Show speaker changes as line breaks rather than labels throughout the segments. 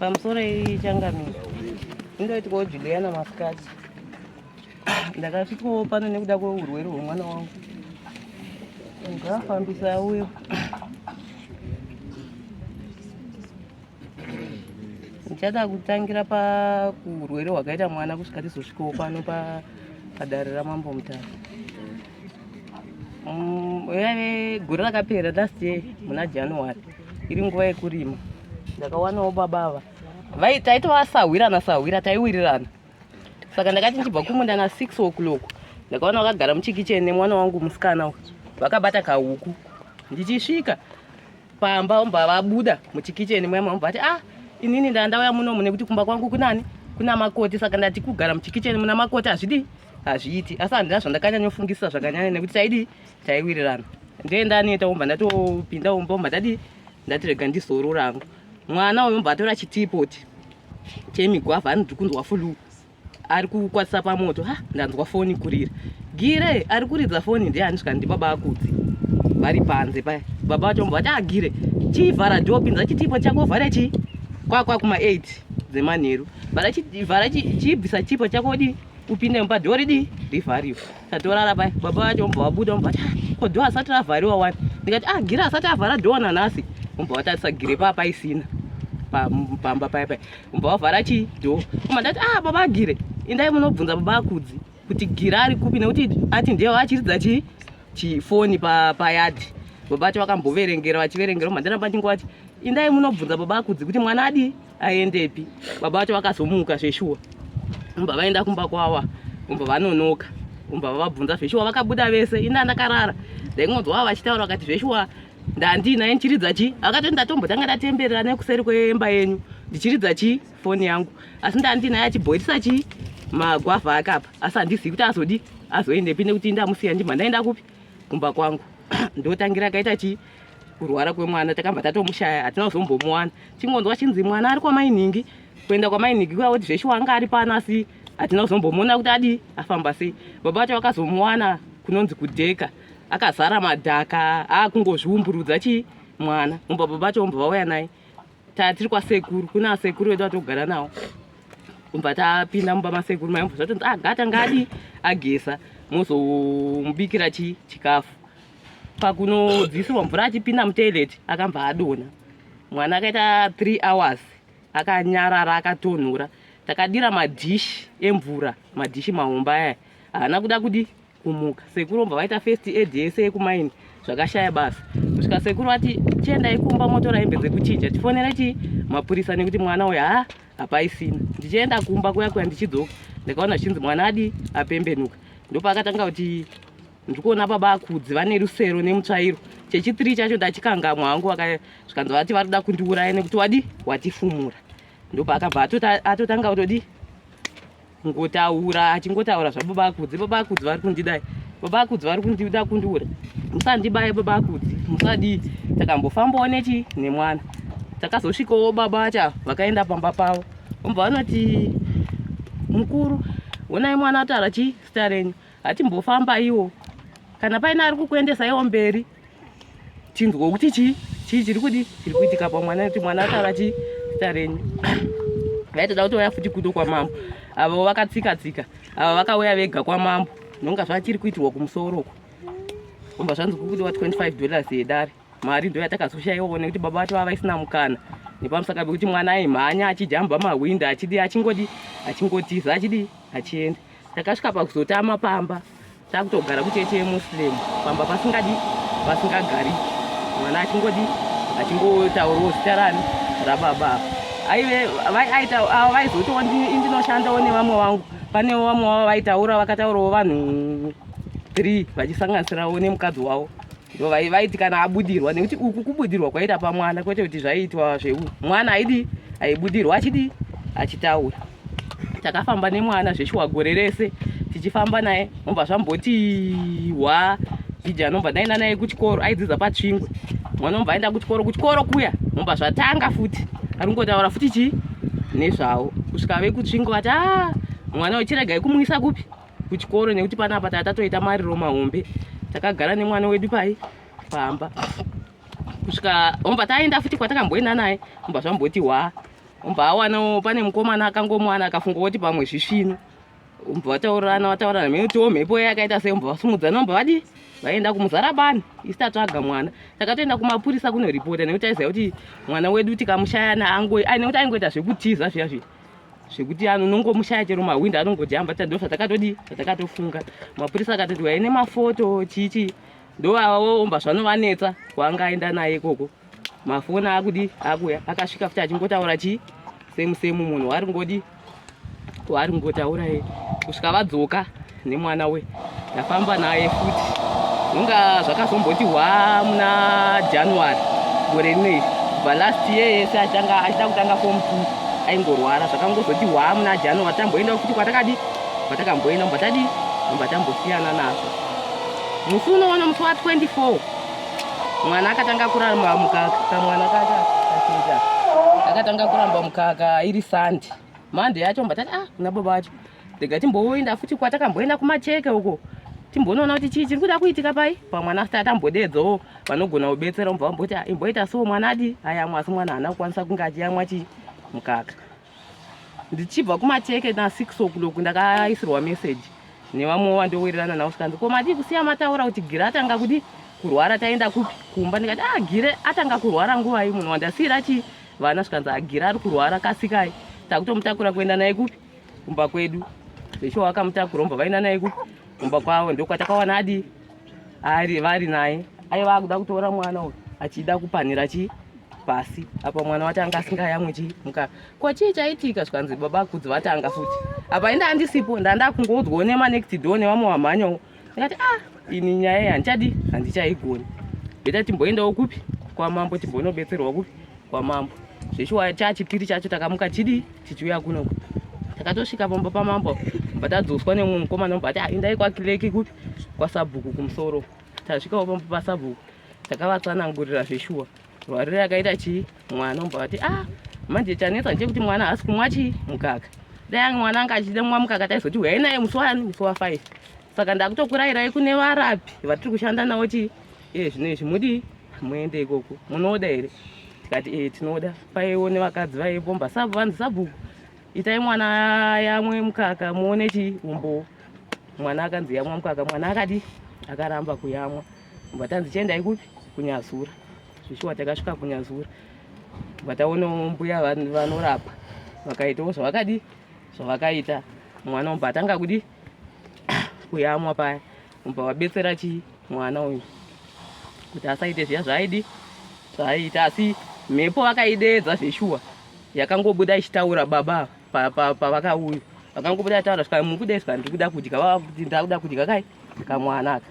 Pamusoro iyi changamire indoitwawo Juliana masikati ndakasvikawo pano nekuda kweurwere hwemwana wangu ngaafambisa uyo ndichada kutangira paurwere hwakaita mwana kusvika tizosvikawo pano padare ramambo mutara Mm, yave gore rakapera last year muna january iri nguva yekurima ndakawanawo baba ava vai taitova sahwirana sahwira taiwirirana saka ndakati ndichibva kumunda na six o'clock ndakaona vakagara muchikicheni nemwana wangu musikana vakabata kahuku ndichisvika pamba ombva vabuda muchikicheni mwema ombva vati ah inini ndandauya munomu nekuti kumba kwangu kunani kuna makoti saka ndati kugara muchikicheni muna makoti hazvidii hazviiti asi handina zvandakanyanyofungisisa zvakanyanya nekuti taidi taiwirirana ndee ndaneta umba ndatopinda umba umba ndadii ndati rega ndizorora hangu mwana uyo mbva atora chitipoti chemigwavha anoti kunzwa fulu ari kukwatisa pamoto ha ndanzwa foni kurira gire ari kuridza foni ndiye andisvika ndibaba akudzi vari panze paya baba vacho mbva vati agire ah, chivhara dho pinza chitipo chako vhara chi kwakwa kuma 8 dzemanheru vhara chibvisa chipo chako di upinde mumba dhoo ridii rivhariwe tatorara paya baba vacho vobva vabuda vobva vati ah, ko dhoo asati ravhariwa wani ndikati ah gira asati avhara dhoo nanhasi vobva vatarisa gire paa paisina pamba paya paya vobva vavhara chii dhoo koma ndati ah baba agire indai munobvunza baba akudzi kuti gira ari kupi nekuti ati ndewo achiridza chii chifoni payadhi baba vacho vakamboverengera vachiverengera vobva ndaramba ndingovati indai munobvunza baba akudzi kuti mwana adii aendepi baba vacho vakazomuka zveshuwa umba vaenda kumba kwava umba vanonoka umba vavabvunza zveshuwa vakabuda vese ina ndakarara ndaingonzwa vava vachitaura vakati zveshuwa ndandinaye ndichiridza chii akatoti ndatombotanga ndatemberera nekuseri kwemba yenyu ndichiridza chii foni yangu asi ndandinaye achibhoirisa chii magwavha akapa asi handizivi kuti azodi azoendepi nekuti ndamusiya ndimhandaenda kupi kumba kwangu ndotangira akaita chii kurwara kwemwana takabva tatomushaya hatina kuzombomuwana chingonzwa chinzi mwana ari kwamainhingi kuenda kwamainhingi kuya kuti zveshuwa anga ari pano asi hatina kuzombomuona kuti adii afamba sei baba vacho vakazomuwana kunonzi kudheka akazara madhaka aakungozviumburudza chii mwana umba baba vacho umbva vauya naye tatiri kwasekuru kuna sekuru vedu vatogara nawo kubva tapinda mumba masekuru maimbo zvatonzi agata ah, ngadi agesa mozomubikira chi chikafu pakunodzisirwa mvura achipinda mutoilet akambva adona mwana akaita three hours akanyarara akatonhora takadira madhishi emvura madhishi mahomba aya haana kuda kudi kumuka sekuru vobva vaita first aid yese yekumaini zvakashaya basa kusvika sekuru vati chiendai kumba motora hembe dzekuchinja tifonere chii mapurisa nekuti mwana uyu haa hapaisina ndichienda kumba kuya kuya ndichidzoka ndakaona zvichinzi mwana adi apembenuka ndopaakatanga kuti ndiri kuona baba akudzi vane rusero nemutsvairo chechitiri chacho ndachikangamwa hangu zvikanzi vati vari kuda kundiuraya nekuti wadi watifumura ndopaakabva atotanga kutodii ngotaura achingotaura zvababa akudzi baba akudzi vari kundidai baba akudzi vari kundida kundiura musandibaye baba akudzi musadii takambofambawo nechi nemwana takazosvikawo baba vacha vakaenda pamba pavo vobva vanoti mukuru honai mwana ataura chii zita renyu hatimbofamba iwo kana paine ari kukuendesaiwo mberi tinzwa kuti chii chii chiri kudi chiri kuitika pamwana nekuti mwana atava chii zita renyu vaitoda kuti vaya futi kuto kwamambo avo vakatsika tsika avo vakauya vega kwamambo nonga zvachiri kuitirwa kumusoro uko omba zvanzi kukuti wa 25 dollars yedare mari ndo yatakazoshaiwawo nekuti baba vato vava isina mukana nepamusaka pekuti mwana aimhanya achijamba mahwindi achidi achingodi achingotiza achidi achienda takasvika pakuzotama pamba takutogara kucheche muslim pamba pasingadi pasingagari mwana achingodi achingotaurawo zita rani rababa aive aita ava vaizotiwo ndinoshandawo nevamwe vangu panewo vamwe vavo vaitaura vakataurawo vanhu three vachisanganisirawo nemukadzi wavo ndo vaiti kana abudirwa nekuti uku kubudirwa kwaita pamwana kwete kuti zvaiitwa zveu mwana aidi aibudirwa achidi achitaura takafamba nemwana zveshuwa gore rese tichifamba naye nobva zvambotiwa jiji anobva ndaenda naye kuchikoro aidzidza patsvingwe mwana obva aenda kuchikoro kuchikoro kuya nobva zvatanga futi ari kungotaura futi chii nezvavo kusvika vekutsvingwe vati a ah, mwana wechiregai kumuisa kupi kuchikoro nekuti panapa taa tatoita mariro mahombe takagara nemwana wedu pai pamba kusvika omba taenda futi kwatakamboenda naye omba zvamboti hwa omba awanawo pane mukomana akangomwana akafunga kuti pamwe zvisvino omba vataurirana vataurirana mhene kutiwo mhepo ye yakaita sei omba vasumudzana omba vadii vaenda kumuzara bani isi tatsvaga mwana takatoenda kumapurisa kunoripota nekuti aiziva kuti mwana wedu tikamushayana angoita aingoita zvekutiza zviya zviya zvekuti anonongomushaya chero mahwindi anongojamba ta ndo zvatakatodii zvatakatofunga mapurisa akatoti waye nemafoto chii chii ndoavaomba zvanovanetsa kwaanga aenda naye ikoko mafoni akudi akuya akasvika futi achingotaura chii semu semu munhu waari ngodi waari ngotaura ye kusvika vadzoka nemwana we ndafamba naye futi unga zvakazomboti hwa muna january gore rino iri kubva last year yese achitanga achida kutanga form two aingorwara zvakangozoti hwa muna january tamboenda futi kwatakadi kwatakamboenda mubva tadi mubva tambosiyana nazvo musi unoona musi wa 24 mwana akatanga kuramba mukaka kamwana kaka akatanga kuramba mukaka iri sandi mande yacho mbatati ah kuna baba vacho rega timboenda futi kwatakamboenda kumacheke uko timbonoona kuti chii chiri kuda kuitika pai pamwana asati atambodeedzawo vanogona kubetsera mubva vamboti ah, imboita so mwana adi ayamwa asi mwana haana kukwanisa kunge achiyamwa chii mukaka ndichibva kumacheke nasix o'clock ndakaisirwa message nevamwe wandowirirana navo zvikanzi ko madii kusiya mataura kuti gire atanga kudi kurwara taenda kupi kumba ndikati ah gire atanga kurwara nguvai munhu wandasiyira chii vana zvikanzi agire ah, ari kurwara kasikai takutomutakura kuenda naye kupi kumba kwedu zveshuwa vakamutakura vobva vaenda naye kumba kwavo ndokwatakawana adi ari vari naye aiva akuda kutora mwana uyu achida kupanhira chii pasi apa mwana wati anga asingayamwe chii muka ko chii chaitika zvikanzi baba kudzi vatanga futi apa inda andisipo ndandakungodzwa nemanekti do nevamwe vamhanyawo ndikati ah ini nyaya iyi handichadi handichaigoni beta timboendawo kupi kwamambo timbonobetserwa kupi kwamambo zveshuwa chachipiri chacho takamuka chidii tichiuya kunoku takatosvika pamba pamambo bva tadzoswa nemumwe mukomana mumba ati aindai ah, kwakileki kupi kwasabhuku kumusoro tasvikawo pamba pasabhuku takavatsanangurira zveshuwa Warire akaita chii mwana umbwa vati ah manje chanetsa chekuti mwana haasi kumwa chii mukaka dai mwana anga achida mwa mukaka taizoti huyai naye musi wani musi wafive saka ndakutokurayirai kune varapi vatiri kushanda navo chii iye zvino izvi mudii muende ikoko munoda here tikati ee eh, tinoda paiwo nevakadzi vaipomba sabu vanzi sabhuku itai mwana yamwe mukaka muone chii umbowo mwana akanzi yamwa mukaka mwana akadi akaramba kuyamwa tobva tanzi chiendai kupi kunyazura zvishuwa takasvika kunyazura tobva taonawo mbuya vanorapa vakaitawo zvavakadii zvavakaita mwana umbva atanga kudii kuyamwa paya umbva wabetsera chii mwana uyu kuti asaite zviya zvaaidi zvaaita asi mhepo vakaideedza zveshuwa yakangobuda ichitaura baba pavakauya vakangobuda taura skaa mukudei skaa ndiri kuda kudya vava kuti ndakuda kudya kai kamwana aka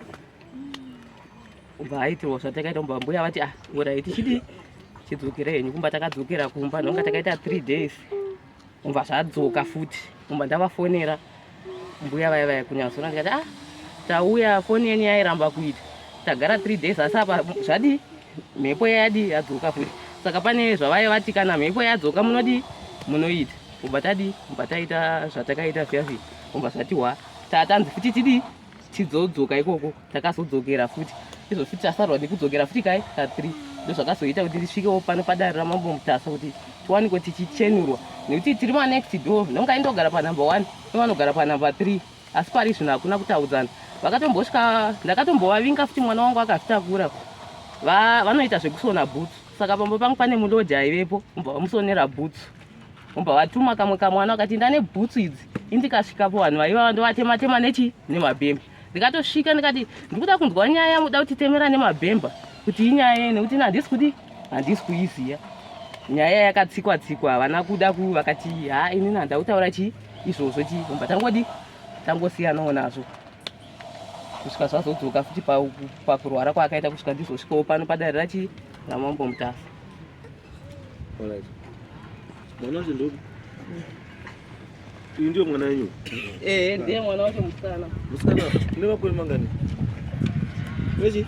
ubva haitirwa zvatakaita umba mbuya vati ah urai tichidi chidzokera henyu kumba takadzokera kumba nonga takaita three days umva zvadzoka futi umba ndavafonera mbuya vaya vaya kunyazona ndikati ah tauya foni yenyu yairamba kuita tagara three days asi apa zvadii mhepo yayadi yadzoka futi saka pane zvavaye vati kana mhepo yadzoka munodii munoita ubva tadii ubva taita zvatakaita zviya zviya ubva zvatiwa tatanzi futi tidii tidzodzoka ikoko takazodzokera futi izvo futi tasarwa nekudzokera futi kai kathree ndozvakazoita kuti tisvikewo pano padare ramambo mutasa kuti tiwaniko tichichenurwa nekuti tiri manext door nonga indogara panumber one novanogara panumber three asi pari zvino hakuna kutaudzana vakatombosvika ndakatombovavinga futi mwana wangu akazvitakura vanoita zvekusona bhutsu saka pamba pangu pane mulodhi aivepo umbavamusonera bhutsu Umba vatuma kamwe kamwana wakati ndane bhutsu idzi indikasvikapo vanhu vaiva vandovatema tema nechi nemabhemba ndikatosvika ndikati ndikuda kunzwa nyaya yamuda kuti temera nemabhemba kuti inyaya yei nekuti nandisi kuti handisi kuiziva nyaya yakatsikwa tsikwa havana kuda ku vakati ha ini nanda kutaura chii izvozvo chii umba tangodi tangosiyanawo nazvo kusvika zvazodzoka futi pakurwara kwaakaita kusvika ndizosvikawo pano padare rachii ramambo mutasa Alright.
Mwana wacho ndopi? Iyi ndiyo mwana yenyu? Eh, ndiye mwana
wacho musikana. Musikana, une
makore mangani? Wechi?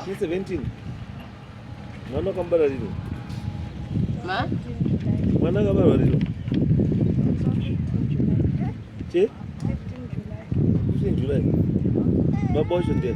Ni 17. Mwana wakambara rino.
Ma?
Mwana akabarwa rino. Che? 15 July. Baba wacho ndiye.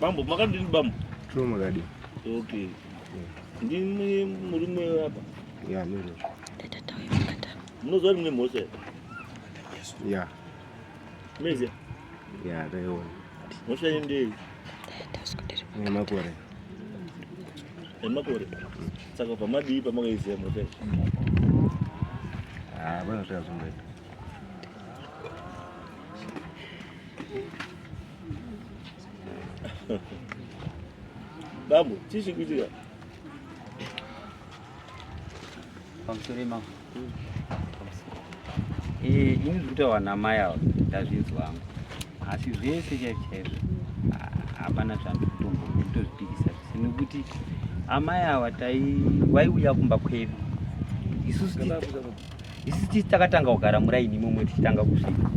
Bambo, makadini bambo? Chuma makadini.
Okay.
Ndimi murume apa? Yeah, ndiri. Munoziva kuti mune mhosva here?
Yeah.
Mezi. Ya,
leo. Mosha yende.
Ni makore.
Ni
makore. Saka pa madi pa maka izi mo pe.
Ah, bana sha zumbe.
Babu, tishi kujiga.
pamusoro imamo eh, ini zviri kutaura namai ava ndazvinzwa hangu asi zvese chaizvo chaizvo hapana zvandiri kutomboona kutozvipikisa zvese nekuti amai ava vaiuya kumba kwedu isusu isusu tisi takatanga kugara muraini imomwe tichitanga kusvika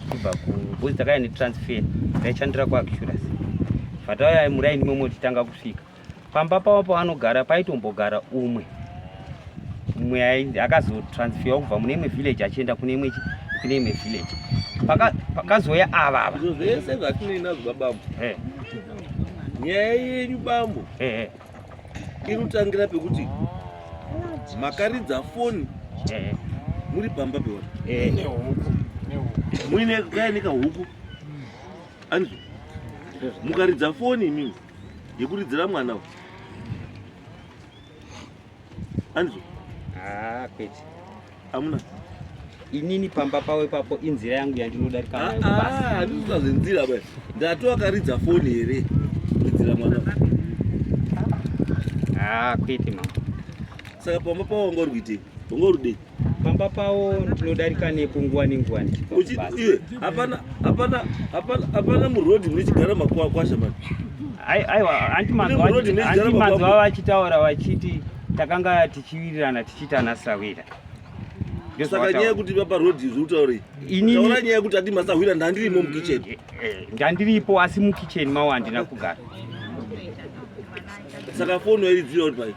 kubva kubhozi takaya netransfer taishandira kuacurus fatauya muraini imomwe tichitanga kusvika pamba pavo pavanogara paitombogara umwe umwe akazotransferwa kubva mune imwe village achienda kune imwe kune imwe village pakazouya ava ava izvo zvese zvatinoinazo
babambo eh. nyaya yenyu bambo eh, eh. inotangira pekuti makaridza foni muri pamba peona muine kaeneka huku anizvo mukaridza foni imimi yekuridzira mwana uyu anizvo ah,
kwete amuna inini pamba pavo ipapo inzira yangu yandinodarika andizvita ah, ah, zvenzira ba
ndati wakaridza foni here kuridzira mwana
kwete mama saka pamba
pavo wanga uri kuitei wanga uri kudei pamba pavo
ndinodarika nepo nguva nenguva hapana
hapana hapana hapana murodhi munochigara makuakwasha mani
aiwa hanti manzwa vachitaura vachiti takanga tichiwirirana tichiitana sawira
saka nyaya yekuti vapa rodhi izvi utaurei taura nyaya yekuti ati masahwira ndandirimo mukicheni eh, eh, ndandiripo
asi mukicheni mawo handina kugara
Saka foni wairidzira uri pai?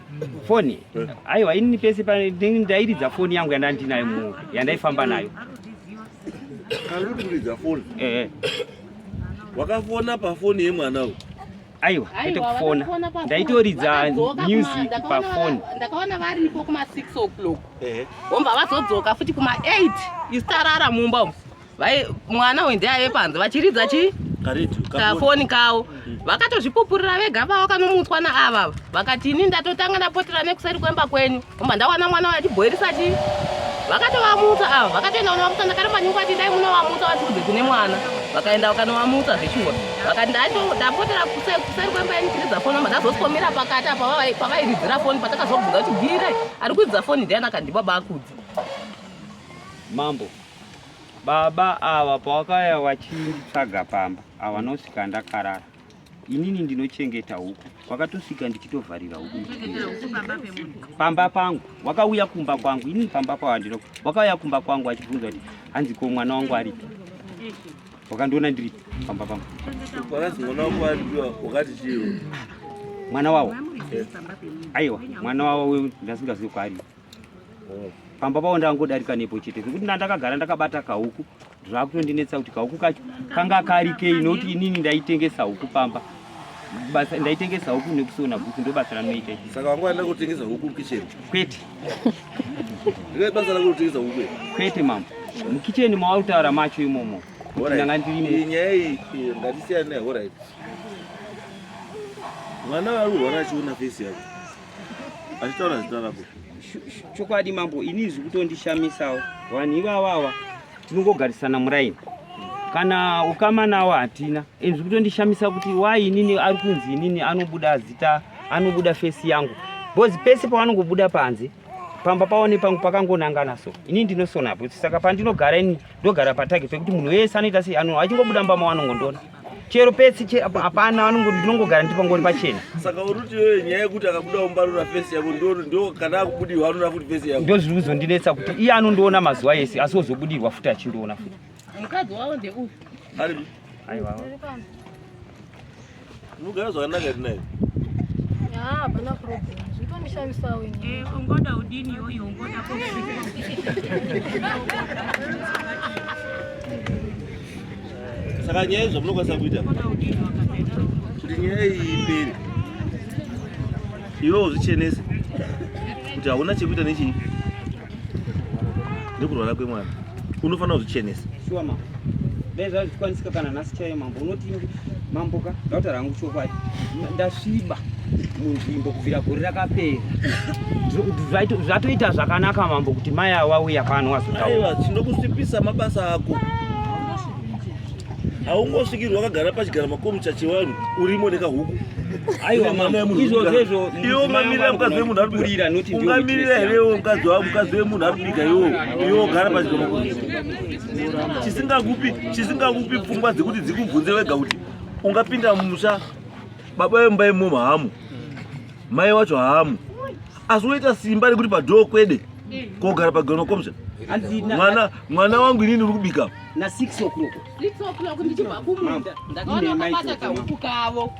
Foni? Eh.
Aiwa ini pese ndairidza foni yangu yandandinayo mu yandaifamba nayo.
Kaluri kuridza foni? Eh. eh. Wakafona pafoni yemwana uyu? aiwa kwete
kufona ndaitoridza music pafoni ndakaona vari nipo
kuma 6 o'clock vomba vazodzoka futi kuma 8 isitarara mumba umu Vai mwana uyu ndiye aive panze vachiridza chi kafoni kawo mm. vakatozvipupurira vega vavo kanomutswa naava vakati ini ndatotanga ndapotera nekuseri kwemba kwenyu omba ndawana mwana wayo achibhoirisa chi vakatovamutsa ava vakatoenda kunovamutsa ndakaramba nyungu ati dai munovamutsa vatiudze kune mwana vakaenda vakanovamutsa zveshuwa vakati ndapotera kuseri kwemba yenyu chiridza foni omba ndazosikomira pakati apa pavairidzira foni patakazobvunza kuti gire ari kuidza foni ndiani akandibaba akudzi
mambo Baba ava pawakaya wachinditsvaga pamba avanosvika ndakarara inini ndinochengeta huku wakatosvika ndichitovharira huku pamba pangu wakauya kumba kwangu inini pamba pawandino wakauya kumba kwangu achibvunza kuti hanzi ko mwana wangu aripi wakandiona ndiri pamba pangu
mwana
wawo aiwa mwana wawo ndasingazivi kwaaripi pamba pavo ndangodarika nepo chete zvekuti ndandakagara ndakabata kahuku zvakutondinetsa kuti kahuku kacho kanga karikei nokuti inini ndaitengesa huku pamba basa ndaitengesa huku nekusona bhuku ndo basa ranoita saka wanga waenda kutengesa
huku mukicheni kwete ndine basa rako kutengesa huku kwete mambo
mukicheni mawautaura macho imomo ndanga ndiri nyaya iyi ngatisiyane
nayo horit mwana waruhwana achiona fesi yako achitaura zita rako chokwadi
mambo ini zvi kutondishamisawo vanhu ivavawa tinongogarisana muraini kana ukama nawo hatina and zvi kutondishamisa kuti wai inini ari kunzi inini anobuda zita anobuda fesi yangu bcause pese pavanongobuda panze pamba pavo nepangu pakangonangana so inini ndinosona kuti saka pandinogara ini ndogara patake pekuti munhu wese anoita sei anhu achingobuda mbama wanongondiona chero pesi hapana vanongoti ndinongogara ndi pangori pachena saka uri kuti iyoyo
nyaya yekuti akabuda umbarura fesi yako ndo kana akubudirwa anoona kuti fesi yako ndo zviri kuzondinetsa kuti
iye anondiona mazuva ese asi ozobudirwa futi achindiona futi mukadzi wavo ndeuyu
ari
aiwa unogara zvakanaka tinaye hapana problem
zvitomishandisawo eh, ungoda udini iyoyo
ungoda
saka nyaya izvo munokwanisa kuita kuti nyaya iyi ipere iwe uzvichenese kuti hauna chekuita nechii nekurwara kwemwana unofanira kuzvichenesa
dai zvaa zvichikwanisika kana nhasi chaiye mambo unoti mambo ka ndautaura hangu chokwadi ndasviba munzvimbo kubvira gore rakapera zvatoita zvakanaka mambo kuti mai awauya pano wazotaura tinokusipisa
mabasa ako haungosvikirwa wakagara pachigara makomucha chevanhu urimo nekahuku ungamirira here iwo mukadzi wavo mukadzi wemunhu ari kubika iwo iwo gara pachigara chisingakupi pfungwa dzekuti dzikubvunze wega kuti ungapinda mumusha baba vemumba imomo hamu mai wacho hamu asi unoita simba rekuti padhoo kwede kogara pagano komsha mwana mwana wangu inini uri kubika na 6
o'clock 6 o'clock ndichibva
kumunda ndakaona kapata kahuku kavo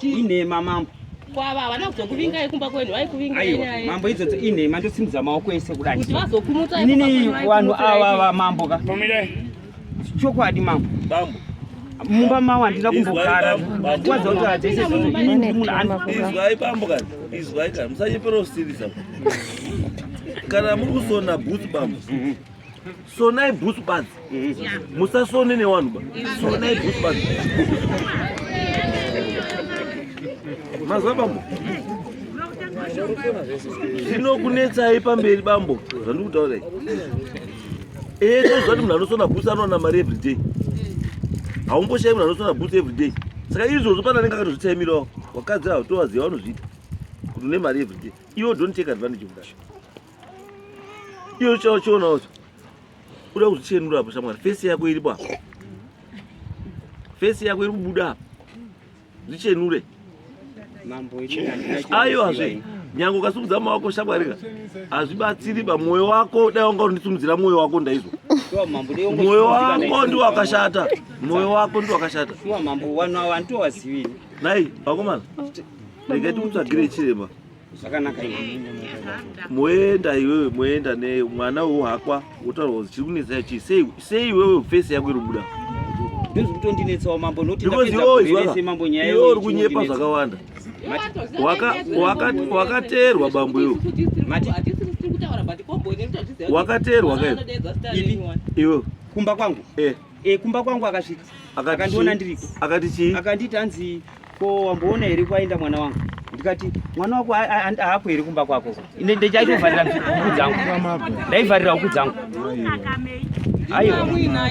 inhema
mambo kwava havana
kuzokuvingai kumba kwenu vaikuvingai mambo idzodzo inhema
ndosimudza maoko ese kudai kuti vazokumutsa inini
vanhu
ava vamambo ka chokwadi mambo bambo
mumba
mawo handina kumbogara waza kuti hatese izwai bambo
kani izwai kani musanyepera kusirisa kana muri kusona bhutsu bambo sonai bhutsu badzi musasone newanhu ba sonai bhutsu badzi mazwa bambo zvinokunetsai pamberi bambo zvandikutaurai Eh, tozvati munhu anosona bus anowana mari everyday. Haumboshayi munhu anosona bus everyday. Saka izvozvo pana anenge akatozvitaimirawo. Wakadzi avo tovaziva vanozviita. Kuti une mari everyday. Iwo don't take advantage of that. Iwo chao chiona wacho. Uda kuzvichenura hapo shamwari. Face yako iripo hapo. Face yako iri kubuda hapo. zvichenure
ayo hazvi
nyange ukasumudza mama wako shakwarira hazvibatsiri ba mwoyo wako dai wanga undisumudzira mwoyo wako ndaizwa mwoyo wako ndi wakashata mwoyo wako ndi wakashata
nai vakomana
regai tikutsvagire chiremba
zvakanaka moenda
iwewe moenda ne mwana uwo hakwa wotaura kuti chiri kunetsa chii sei sei iwewe face yako iri kubuda ndozvitondinetsawo
mambo nokuti ndapedza mambo
nyaya iwe uri kunyepa zvakawanda wakateerwa bambo iwo wakateerwa kai iwe kumba kwangu
eh Eh, kumba kwangu akasvika. Akandiona ndiriko. Akati chii? Akanditi anzi ko wamboona here kwaenda mwana wangu ndikati mwana wako haapo here kumba kwako ine ndechaitovharira huku dzangu ndaivharira huku dzangu aiwa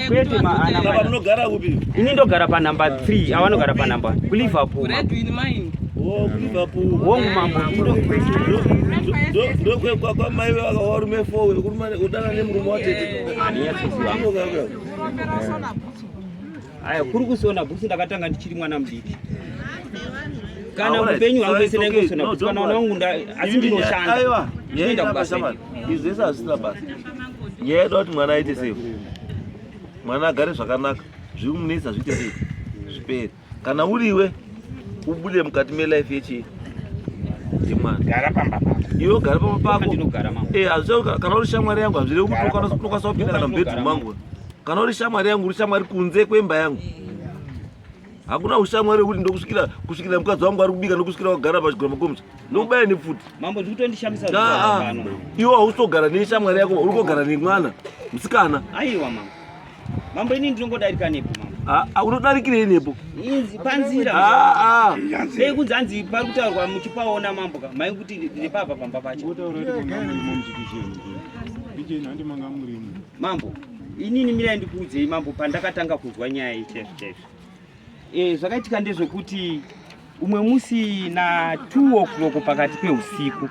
kwete maanamunogara
kupi ini ndogara panumber
3 avanogara panumber kuliverpool
oh,
wongu mambo ndokwekwakwamaive vakawarume 4 wekudanana nemurume watete
Aya kuri kusona bhutsu ndakatanga ndichiri mwana mudiki. Kana upenyu hwangu wese ndainge kusona bhutsu kana mwana wangu asi ndinoshanda. Aiwa. Ndinoenda
kubasa. Izvi zvese hazvisina basa. Nyaya yedu kuti mwana aite sei? Mwana agare zvakanaka. Zviri munetsa zviite sei? Zvipere. kana uriwe ubude mukati melife yechi yemwana gara pamba
pako iwe gara pamba pako
ndinogara mama eh hazvo
kana uri shamwari
yangu hazvire kuti kana unokwanisa kupinda kana mubedroom mangu kana uri shamwari yangu uri shamwari kunze kwemba yangu hakuna ushamwari wekuti ndokusvikira kusvikira mukadzi wangu ari kubika ndokusvikira wagara pachigura makomisa ndokubaya nepfuti mambo zvikutondihamisa
iwe hausogara
neshamwari yako uri kogara nemwana musikana aiwa
mama Mambo
ini
ndinongodarika
nepo
mambo. Ah, ah
unodarikirei nepo? Inzi panzira.
Ah ah. Dai kunzi anzi pari kutaurwa muchipaona mambo ka. Mai kuti ndiri papa pamba pacho. Wotaura kuti kuna muri mu mjikijeni. Bije nhandi manga muri mu. Mambo, inini mira ndikuudzei mambo pandakatanga kunzwa nyaya iyi chef chef. Eh zvakaitika ndezvekuti umwe musi na 2 o'clock pakati peusiku.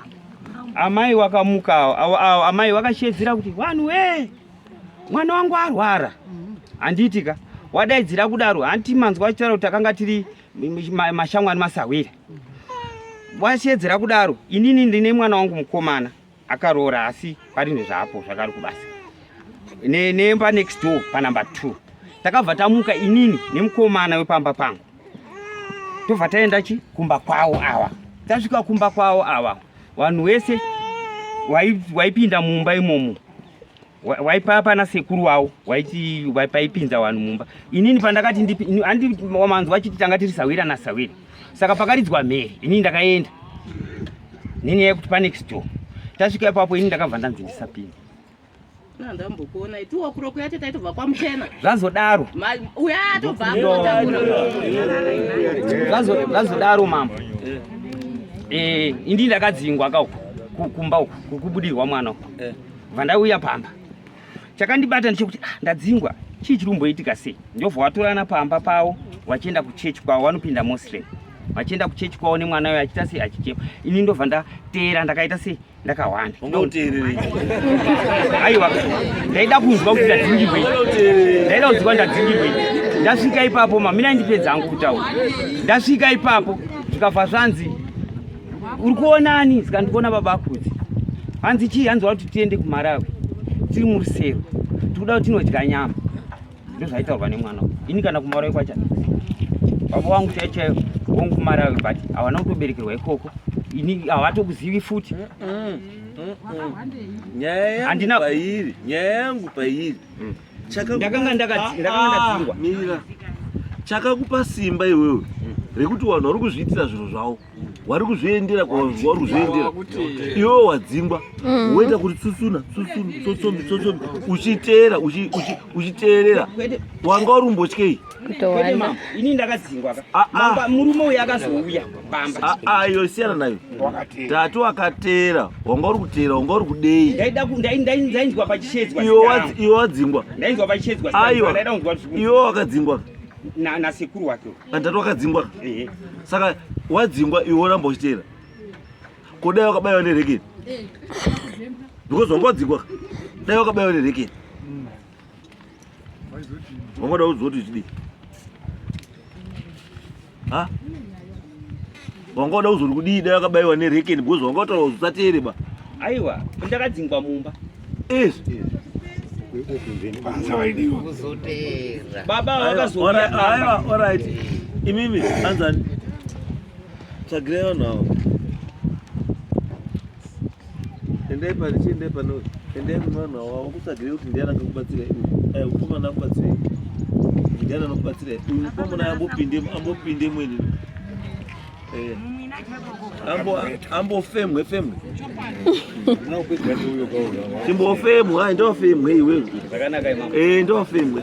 Amai wakamuka, amai wakashedzera kuti vanhu wee mwana wangu arwara handiti ka wadaidzira kudaro hanti manzwa achitaura kuti akanga tiri mashamwari masahwira wasiedzera kudaro inini ndine mwana wangu mukomana akaroora asi pari nezvaapo zvakari kubasa nemba next door panumber two takabva tamuka inini nemukomana wepamba pangu tobva taenda chi kumba kwavo ava tasvika kumba kwavo ava vanhu wese waipinda mumba imomo waipa pana sekuru wawo waiti paipinza vanhu mumba inini pandakati ndiwamanzi wachiti tanga tiri sawira nasawira saka pakaridzwa mhere inini ndakaenda nini yekuti panext door tasvika ipapo ini ndakabva ndanzi ndisapinda ndambokuona
iti wakuro kuya tete aitobva kwamuchena zvazodaro
uya
atobva
zvazodaro mambo eh, eh, indi ndakadzingwa kauku kumba uku kubudirwa mwana uku eh. vandauya pamba chakandibata ndechekuti ah, ndadzingwa chii chiri kumboitika sei ndobva watorana pamba pavo vachienda kuchechi kwavo vanopinda muslim vachienda kuchechi kwavo nemwana uyo achiita sei achichema ini ndobva ndateera ndakaita sei ndakahwanda aiwa ndaida kunzwa kuti ndadzingirwei ndaida kunzwa ndadzingirwei ndasvika ipapo mamina ndipedza angu kutaura ndasvika ipapo zvikabva zvanzi uri kuona ani saka ndikuona baba akudzi hanzi chii hanzi wati tiende kumarawi tiri murusero tikuda kuti tinodya nyama ndozvaitaurwa nemwana ini kana kumarawi kwacha baba wangu chai chaiyo wongu kumarawi but havana kutoberekerwa ikoko ini havatokuzivi futi
handina pairi nyaya yangu pairi mm. ndakanga
ndakadzingwa ah, ah,
chakakupa simba iwewe rekuti vanhu vari kuzviitira zvinhu zvavo wari kuzviendera kwauri kuzviendera iwewe wadzingwa mm. woita kuti tsutsuna tsutsunu tsotsombi tsotsombi uchiteera uchiteerera wanga uri mbotyei ini
ndakadzingwa ka ah, ah. murume
uyu akazouya pamba ah, iyo siyana nayo
tatu akateera wanga uri kuteera wanga uri kudei ndainzwa
pachishedzwa iwe wadzingwa
ndainzwa pachishedzwa
aiwa iwe
wakadzingwa nasekuru
wake kandidhati wakadzingwa ehe
saka wadzingwa iwe woramba uchiteera ko dai wakabaiwa nerekeni because wanga wadzingwa dai wakabaiwa nerekeni wanga uda udzoti chidii ha wanga wada kuzori kudii dai wakabaiwa nerekeni because wanga wataura kuti usateere ba aiwa
ndakadzingwa mumba yes baba wakazoaiwa
orit imimi anzani tsvagirai vanhu avo Endai pari chiendai pano. Endai kuna vanhu avo vakutsvagire kuti ndiani akakubatsira iwe. Eh mukomana akubatsira iwe. Ndiani anokubatsira iwe. Uyu mukomana ambopinde ambopinde mweni. Eh. Ambo ambo femwe femwe. Chimbo femwe,
ndofemwe iwewe.
Zvakanaka imama. Eh ndofemwe.